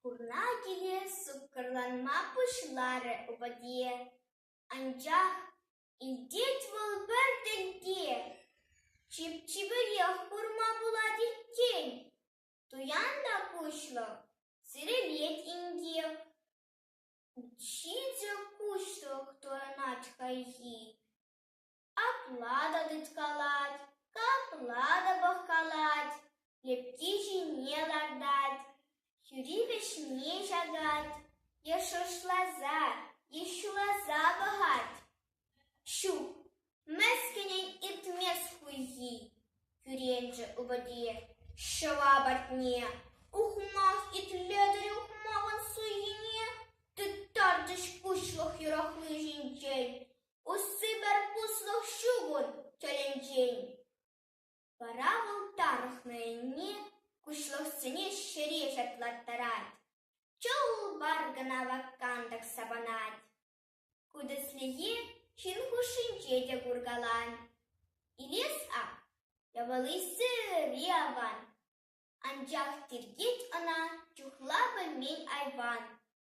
Пурна киле суккӑрланма пуҫларӗ Уводье, анчах илтет вӑл пӗр тенкех, чип-чиперех курма пулать иккен. Туян та куҫлӑ, сирӗлет инкек. Ҫичӗ куҫлӑх туянать хайхи. Апла та тыткалать, капла та пӑхкалать, лепки ҫине лартать, хӳри вӗҫне ҫакать е шӑршласа е ҫуласа пӑхать. Ҫук, мӗскӗнӗн иртмест хуйхи, кӳренчӗ упӑте ҫӑва патне. Ухмах итлетӗр ухмахӑн суйхине, тыттарчӗҫ куҫлӑх юрахли ҫинчен. Усси пӗр пуслӑх ҫукун тӗлӗнчен. Вара вӑл тарӑхнӑ енне куҫлӑхсене ҫӗре ҫатлаттарать. Чул баргӑна ваккантӑк сапӑнать. Ку тӗслӗхе ҫын хушшинче те куркалан. Илес ак, япали сӗри аван, анчах тиркет ӑна чухла пӗлмен айван.